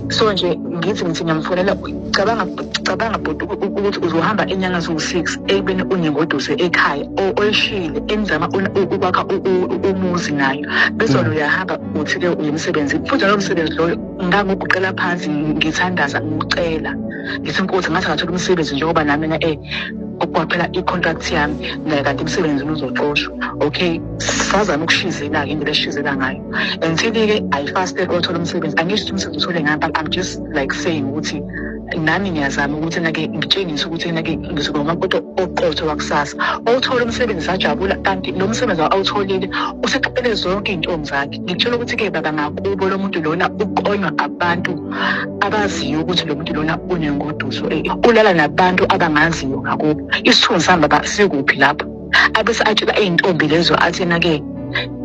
so nje ngithi ngithi ngiyamfonela cabanga cabanga bhuti ukuthi uzohamba inyanga ziwu-six ekubeni unengoduso ekhaya oyishile engizama ukwakha umuzi nayo bezona mm. uyahamba uthi-ke uyemsebenzi futhi lowo msebenzi loyo ngangoguqela phansi ngithandaza ngicela ngithi nkosi ngathi ngathola umsebenzi njengoba nami na e kwaphela i-contract yami naye kanti emsebenzini uzoxoshwa okay sazama ukushizela-ke indlela eshizela ngayo and sebe-ke i fasted othola umsebenzi angisho ukuthi umsebenzi uthole ngami but i'm just like saying ukuthi nami ngiyazama ukuthi nake ngitshengise ukuthi nake ngizoba umakoti oqotho wakusasa owuthola umsebenzi sajabula kanti lo msebenzi awutholile useqaphele zonke iy'ntombi zakhe ngikutshela ukuthi-ke baba ngakubo lo muntu lona uqonywa abantu abaziyo ukuthi lo muntu lona unengoduso eh, ulala nabantu abangaziyo ngakubo isithunzi sami baba sikuphi lapho abese atshela iy'ntombi lezo athi na-ke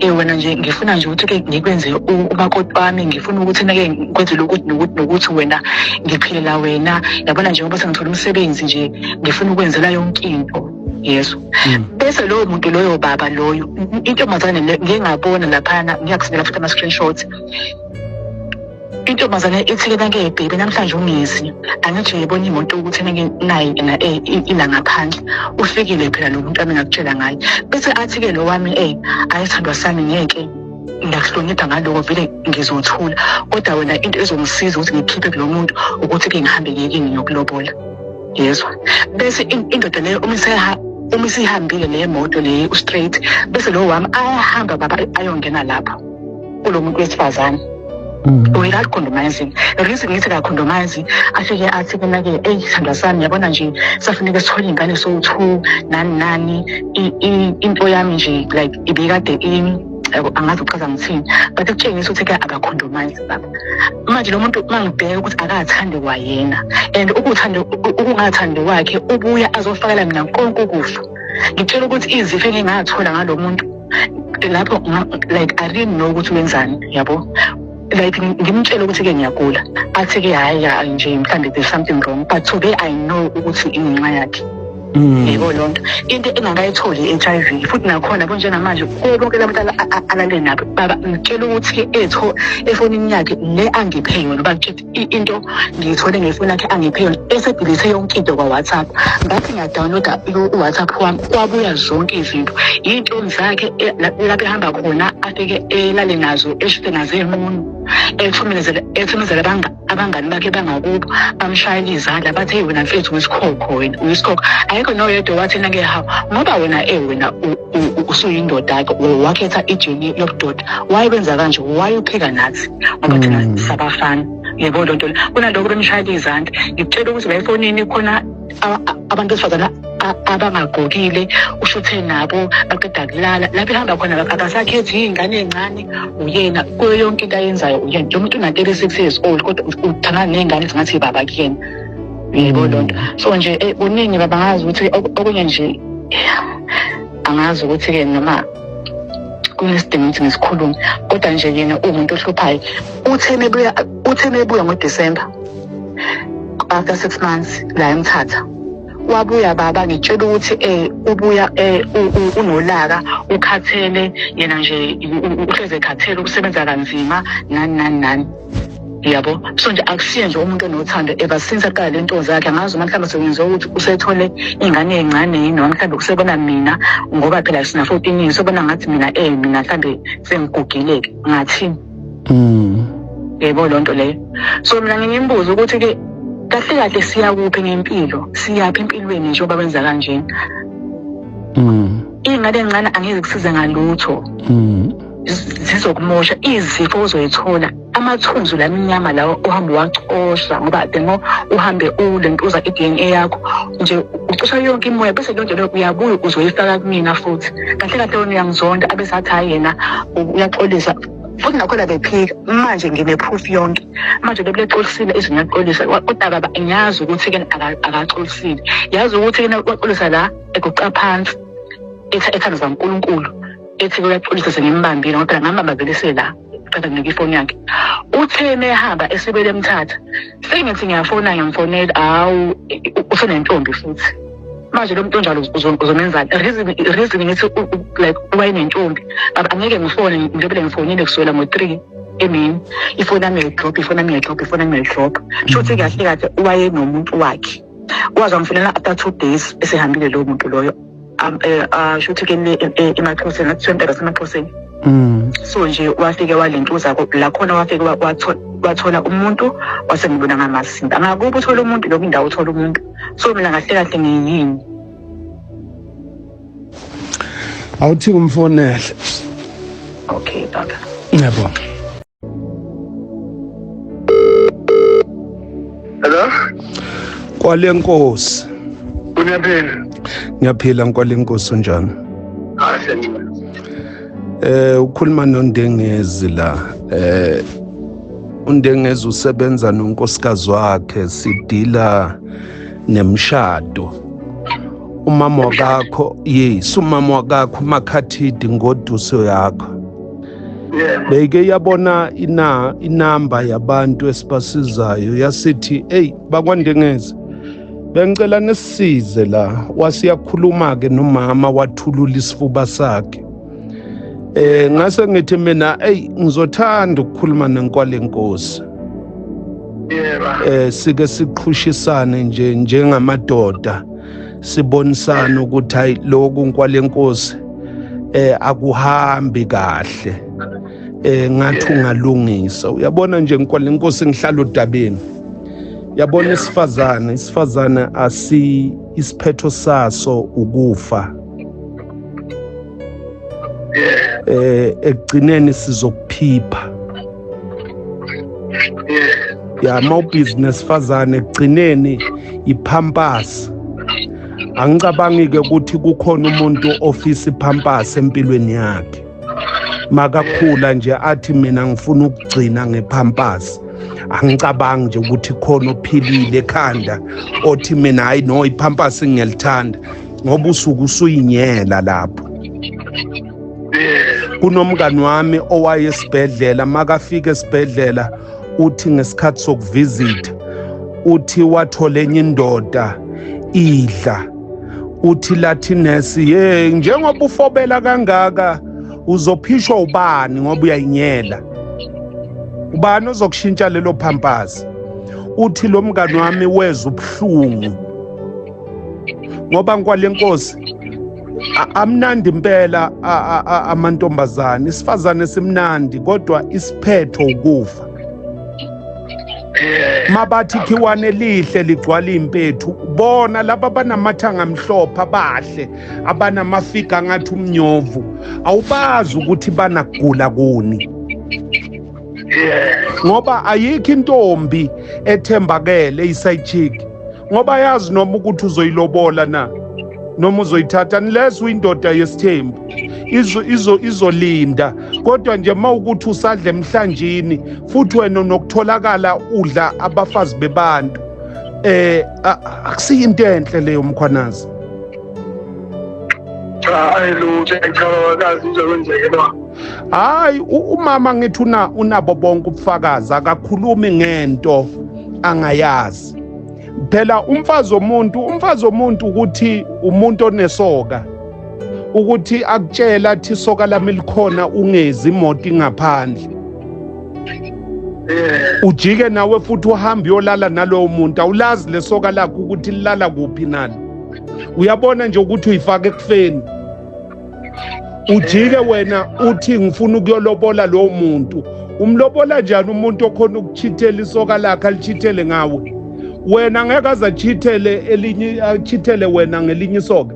um wena nje ngifuna nje ukuthi-ke ngikwenze umakoti wami ngifuna ukuthi na-ke ngikwenzele ukuthi nokuthi nokuthi wena ngiphilela wena yabona njengoba sengithola umsebenzi nje ngifuna ukwenzela yonke into yesu hmm. bese loyo muntu loyo baba loyo intombazane ngiyengabona laphana ngiyakusinela futhi ama-screenshots intombazane ithi ke nake bhebe namhlanje ungezi angithi uyibona imoto ukuthi nake naye na eh, ila ngaphandle ufikile phela lo muntu amengakutshela ngaye bese athi ke lo wami eh ayithandwa sami ngeke ngiyakuhlonipha ngaloko vele ngizothula kodwa wena into ezongisiza ukuthi ngikhiphe kulo muntu ukuthi ke ngihambe ngekini ngiyokulobola yezwa bese indoda leyo uma iseha uma isihambile le moto le u-straight bese lo wami ayahamba baba ayongena lapho kulo muntu wesifazane mm. wena alikhondomayizi reason ngithi kakhondomayizi afike athi kena-ke eyi sithandwa sami yabona nje safuneke sithole iy'ngane sowu-two nani nani into yami nje like ibikade ini angazi uchaza ngithini but kutshengisa ukuthi ke akakhondomayizi baba manje lo muntu uma ngibheka ukuthi akathandi kwayena and ukuthande ukungathandi kwakhe ubuya azofakela mina konke ukufa ngitshela ukuthi izifo engingathola ngalo muntu lapho like i didn't know ukuthi wenzani yabo like ngimtshela ukuthi-ke ngiyagula athi-ke hhayi ya nje mhlawumbe there's something wrong but today i know ukuthi ingenxa yakhe mm. yebo loo nto into engakayitholi i-h i v futhi nakhona kunjengamanje kuwo bonke la bantu alale nabo baba ngitshela ukuthi etho efonini yakhe le angiphe yona uba into ngiyithole ngefoni yakhe angiphe yona esedilise yonke into kwa-whatsapp ngathi ngiyadownloada u-whatsapp wami kwabuya zonke izinto yiy'ntombi zakhe e, lapho ehamba khona afike elale nazo eshute nazo ey'munu ethumezela abangani bakhe bangakubo bamshayela izandla bathi eyi wena mfethu uyisikhokho wena uyisikhokho ayikho noyedwa wathina ke hawu ngoba wena e wena usuyindoda-ke wakhetha ijini yobudoda why benza kanje why upheka nathi ngoba thina mm. sabafana yebo loo nto le kunaloko bemshayela izandla ngikutshela ukuthi la efonini khona abantu besifazane abangagqokile ushuthe nabo baqeda kulala lapho ehamba khona akasakhethi iy'ngane ey'ncane uyena kuyo yonke into ayenzayo uyena nje umuntu unatele six years old kodwa uthangana ney'ngane ezingathi baba kuyena yebo loo nto so nje eh, kuningi baba ngazi ukuthi okunye nje angazi ukuthi-ke noma kunesidingo ukuthi ngisikhulume kodwa nje yena uwumuntu ohluphayo uthe mebuya uthe mebuya ngodisemba after six months la emthatha wabuya baba ngitshela ukuthi eh ubuya eh unolaka ukhathele yena nje uhleze khathele ukusebenza kanzima nani nani nani yabo so nje akusiye nje umuntu onothando ever since aqala le nto zakhe angazi uma mhlawumbe sekwenziwa ukuthi usethole ingane encane yini noma mhlawumbe usebona mina ngoba phela sina fourteen years ubona ngathi mina eh mina mhlawumbe sengigugile-ke ngathini mm. yebo loo nto leyo so mina ngingimbuza ukuthi-ke kahle kahle siya kuphi ngempilo siyaphi empilweni nje oba kwenza kanjena mm. iy'ngane encane angeke kusize ngalutho mm. zizokumosha izifo ozoyithola amathunzi lamnyama lawo uhambe wacosha ngoba the more uhambe ulentuza i-dna yakho nje ucosha yonke imoya bese leyo nto leyo uyabuya uzoyifaka kumina futhi kahle kahle wena uyangizonda abesathi hhayi yena uyaxolisa futhi nakhona bephika manje ngine-proof yonke manje lokule xolisile izwe ngiyaxolisa kodaba ngiyazi ukuthi-ke akaxolisile yazi ukuthi-ke naxolisa la eguqa phansi ethandazwa unkulunkulu ethi uyaxolisa sengimbambile ngoba phela ngambambabelise la qeda nginika ifoni yakhe uthe mehamba esibele emthatha sengithi ngiyafona ngiyamfonela hawu usenentombi futhi manje lo muntu onjalo uzomenzani reason reason ngithi like wayenentombi angeke ngifone ngilobele ngifonile kusukela ngo-three emini ifoni yami yayidrop ifoni yami yayidrop ifoni yami yayidrop sho ukuthi kahle kahle wayenomuntu wakhe kwaze amfunela after two days esehambile lowo muntu loyo eh, asho ukuthi kele e, e, emaxhoseni athi sontela semaxhoseni mm. so nje wafike walentuza lakhona wafike wathola umuntu wasengibona ngamasimba angakuba uthola umuntu lokhu indawo uthola umuntu so mina kahle kahle ngiyini awuthi umfonele okay baba yebo Hello? Kwale Nkosi. Uyaphila? Ngiyaphila Nkwale Nkosi unjani? Ah, siyangena. Eh ukhuluma noNdengezi la. Eh uNdengezi usebenza nonkosikazi wakhe sidila nemshado. Umama wakakho, yes, umama wakakho uMakhathidi ngoduso yakho. beyike yabona ina inamba yabantu esibasizayo yasithi eyi bakwandengezi bengicela nisisize la wasiyakhuluma-ke nomama wathulula isifuba sakhe eh ngase ngithi mina eyi ngizothanda ukukhuluma nenkwale nkosi eh sike siqhushisane nje njengamadoda sibonisana ukuthi hayi lokhu nkwalenkosi eh akuhambi kahle eh ngathi ungalungisa uyabona nje nkwalenkosi ngihlala odabeni yabona isifazane isifazane asi isiphetho saso ukufa eh ekugcineni sizokuphipha ya mawubhizinesi fazane ekugcineni iphampasi angicabangi-ke ukuthi kukhona umuntu ofisa iphampasi empilweni yakhe makakhula nje athi mina ngifuna ukugcina ngephampasi angicabangi nje ukuthi khona ophilile ekhanda othi mina hayi no iphampasi ngiyalithanda ngoba usuke usuyinyela lapho kunomngani wami owaye esibhedlela makafika esibhedlela uthi ngesikhathi sokuvizitha uthi wathola enye indoda idla uthi lathi nesi ye njengoba ufobela kangaka uzophishwa ubani ngoba uyayinyela ubani ozokushintsha lelo phampazi uthi lo mngani wami weza ubuhlungu ngoba nkwale nkosi amnandi impela amantombazane isifazane simnandi kodwa isiphetho ukufa mabathi khiwane elihle ligcwala impethu bona laba banamathanga amhlophe abahle abanamafiga ngathi umnyovu awubazi ukuthi banagula kuni yes ngoba ayikho intombi ethembakele iside chick ngoba yazi noma ukuthi uzoyilobola na noma uzoyithatha unless uyindoda yesithembu izo izo izolinda kodwa nje mawukuthi usadla emhlanjini futhi wena nokutholakala udla abafazi bebantu eh akusiyinto enhle leyo mkhwanazi cha ayilutho ngicabanga kazi uzokwenzeka hayi umama ngithi una unabo bonke ubufakazi akakhulumi ngento angayazi phela umfazi omuntu umfazi omuntu ukuthi umuntu onesoka ukuthi akutshela athi isoka lami likhona ungezi imoto ingaphandle eh. ujike nawe futhi uhambe uyolala nalowo muntu awulazi lesoka lakho ukuthi lilala kuphi nalo uyabona nje ukuthi uyifaka ekufeni ujike wena uthi ngifuna ukuyolobola lowo muntu umlobola njani umuntu okhona ukuchithela isoka lakhe alichithele ngawe wena ngeke aze achithele elinye achithele wena ngelinye isoka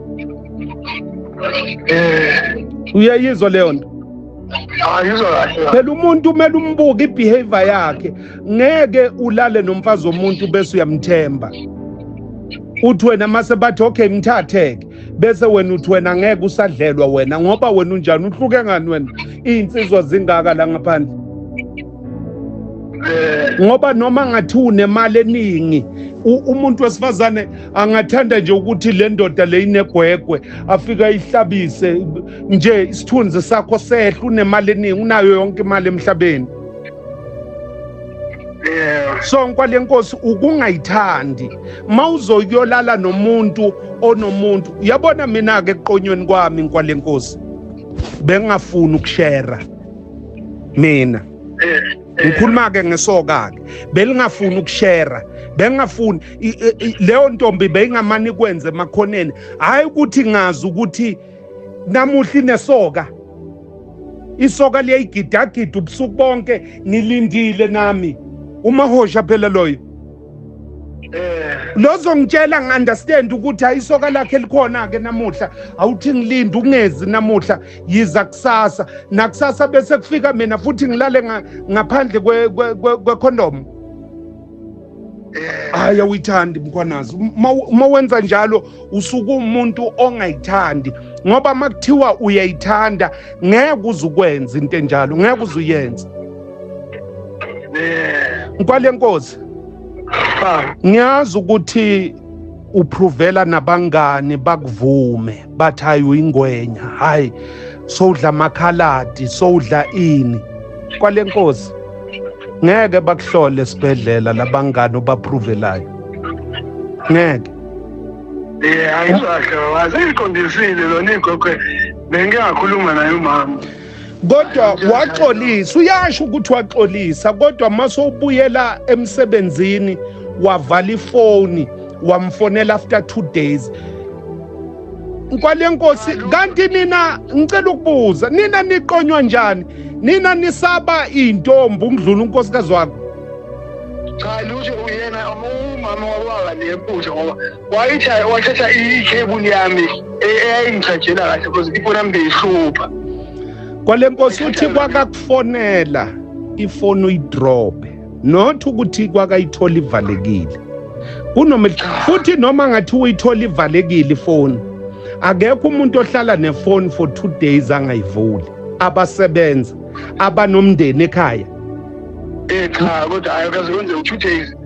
eh uyayizwa leyo nto phela umuntu umele umbuke ibehavior yakhe ngeke ulale nomfazi womuntu bese uyamthemba uthi wena mase bathi okay mthatheke bese wena uthi wena ngeke usadlelwa wena ngoba wena unjani uhluke ngani wena iy'nsizwa zingaka la ngaphandle ngoba noma ngathi unemali eningi umuntu wesifazane angathanda nje ukuthi le ndoda le inegwegwe afike ayihlabise nje isithunzi sakho sehle unemali eningi unayo yonke imali emhlabeni Yeah. so nkwale nkosi ukungayithandi ma uzoyolala nomuntu onomuntu uyabona mina-ke eqonyweni kwami nkwale nkosi bengingafuni ukushera mina Eh, eh, ngikhuluma-ke ngesoka-ke belingafuni ukushera bengingafuni i- i- i- leyo ntombi beyingamane ikwenze emakhoneni hhayi ukuthi ngazi ukuthi namuhla inesoka isoka liyayigidagida ubusuku bonke ngilindile nami umahosha phela loyo eh. lozongitshela ngi-understand ukuthi ayisoka lakhe likhona-ke namuhla awuthi ngilinde ungezi namuhla yiza kusasa nakusasa bese kufika mina futhi ngilale ngaphandle kwekhondomu hayi awuyithandi mkhwanazi uma wenza njalo usuke umuntu ongayithandi ngoba uma kuthiwa uyayithanda ngeke uze ukwenza into enjalo ngeke uze uyenze nkwale nkosi ngiyazi ukuthi upruvela nabangani bakuvume bathi hayi uyingwenya hayi sowudla amakhaladi sowudla ini kwale nkosi ngeke bakuhlole esibhedlela labangani obapruvelayo ngeke Eh ayizwahle waziqondisile lona igogo bengingakhuluma naye umama kodwa waxolisa uyasho ukuthi waxolisa kodwa mase ubuyela emsebenzini wavala ifoni wamfonela after two days nkwalenkosi kanti nina ngicela ukubuza nina niqonywa njani nina nisaba intombi ukudlula unkosikazi wakho cha lutho uyena umama wababa nemputha ngoba wayitha wathatha ikhebuli yami e- eyayingijajela kahle because ifoni yami beyihlupha kwalenkosi uthi kwakakufonela ifoni uyidrobe not ukuthi kwakayithola ivalekile kunoma futhi noma ngathi uyithola ivalekile ifoni akekho umuntu ohlala nefoni for two days angayivuli abasebenza abanomndeni ekhaya Eh cha kodwa hayi kaze kwenze u-two days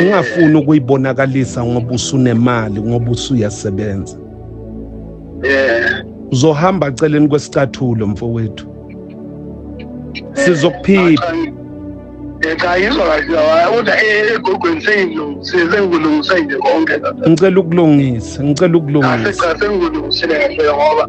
ungafuni ukuyibonakalisa ngoba usunemali ngoba usuyasebenza yeah uzohamba aceleni kwesicathulo mfowethu sizokuphipha cha yizwa kahle kodwa egogweni sengilungise nje konke ngicela ukulungisa ngicela ukulungisa cha sengikulungisile kahle ngoba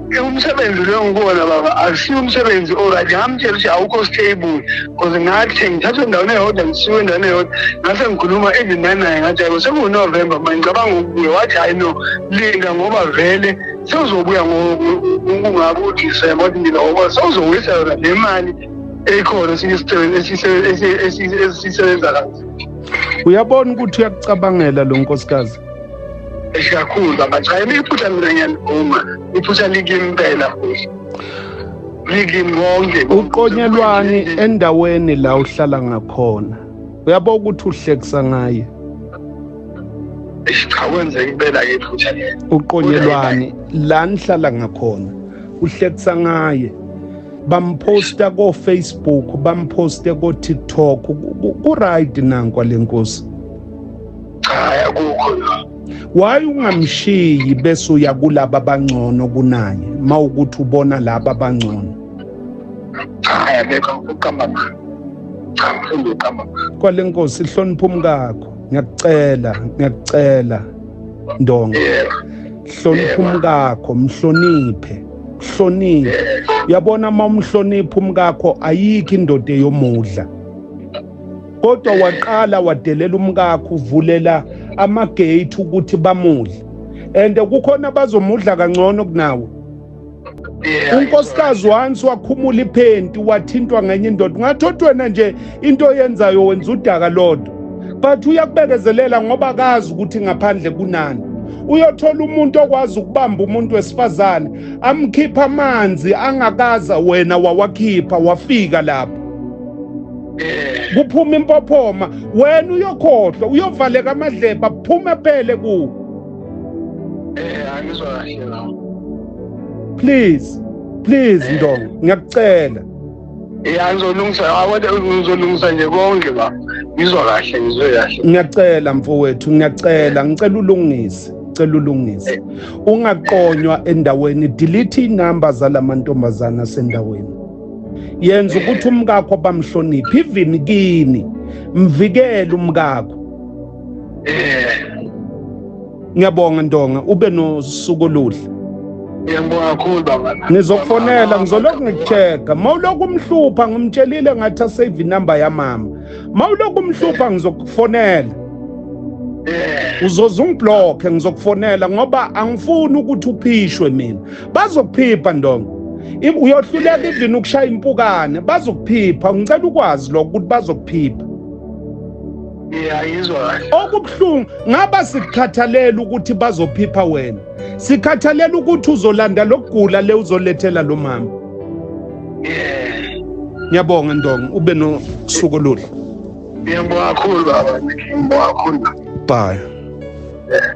umsebenzi lo ngibona baba akusiyo umsebenzi oright ngamtshela ukuthi awukho stable cause ngathi sengithathwe endaweni eyodwa ngisiwe endaweni eyodwa ngase ngikhuluma even nanaye ngathi ayiko sekuwunovemba manje ngicabanga ukubuye wathi hayi no linda ngoba vele sewuzobuya ngokungabe udisemba wathi mina ngoba sewuzowisa yona le mali ekhona esisebenza kazi uyabona ukuthi uyakucabangela lo nkosikazi kakhulu baba cha yimi iphutha mina ngiyalivuma iphutha likimpela futhi likimi konke uqonyelwani endaweni la uhlala ngakhona uyabo ukuthi uhlekisa ngaye cha kwenzeka impela ke iphutha lelo uqonyelwani la nihlala ngakhona uhlekisa ngaye bamphosta ko-facebook bamphoste ko-tiktok ku-right nankwa le nkosi cha akukho la why ungamshiyi bese uya kulaba abangcono kunaye ma ukuthi ubona laba abangcono cha yabeka ukuqamba manje cha mfundo uqamba manje kwale nkosi ihlonipha umkakho ngiyakucela ngiyakucela ndonga yeah hlonipha umkakho mhloniphe hloniphe yeah uyabona uma umhlonipha umkakho ayikho indoda eyomudla kodwa waqala wadelela umkakho uvulela amagate ukuthi bamudle and kukhona abazomudla kangcono kunawe unkosikazi once wakhumula iphenti wathintwa ngenye indoda ungathi othi wena nje into oyenzayo wenza udaka lodwa but uyakubekezelela ngoba akazi ukuthi ngaphandle kunani uyothola umuntu okwazi ukubamba umuntu wesifazane amkhipha amanzi angakaza wena wawakhipha wafika lapho eh. kuphuma impophoma wena uyokhohlwa uyovaleka amadleba kuphume phele ku eh angizwa kahle la please please eh. ndongo ngiyakucela ya ngizolungisa awade ngizolungisa nje konke ba ngizwa kahle ngizwe kahle ngiyacela mfowethu ngiyacela ngicela ulungise ngicela ulungise eh. ungaqonywa endaweni delete inamba zalamantombazana sendaweni yenza ukuthi umkakho bamhloniphe even kini mvikele umkakho ngiyabonga ntonga ube nosuku oluhle ngiyabonga kakhulu baba ngizokufonela ngizolokhu ngikucheka ma ulokhu umhlupha ngimtshelile ngathi asave inumber yamama ma ulokhu umhlupha ngizokufonela uzoze ungiblokhe ngizokufonela ngoba angifuni ukuthi uphishwe mina bazokuphipha ndongo uyohluleka even ukushaya impukane bazokuphipha ngicela ukwazi lokho ukuthi bazokuphipha ngiyayizwa kahle okubuhlungu ngaba sikukhathalela ukuthi bazophipha wena sikhathalela ukuthi uzolanda lokugula le uzolethela lo mama yeah ngiyabonga ndonga ube nosuku oluhle ngiyabonga kakhulu baba ngiyabonga kakhulu bye yeah.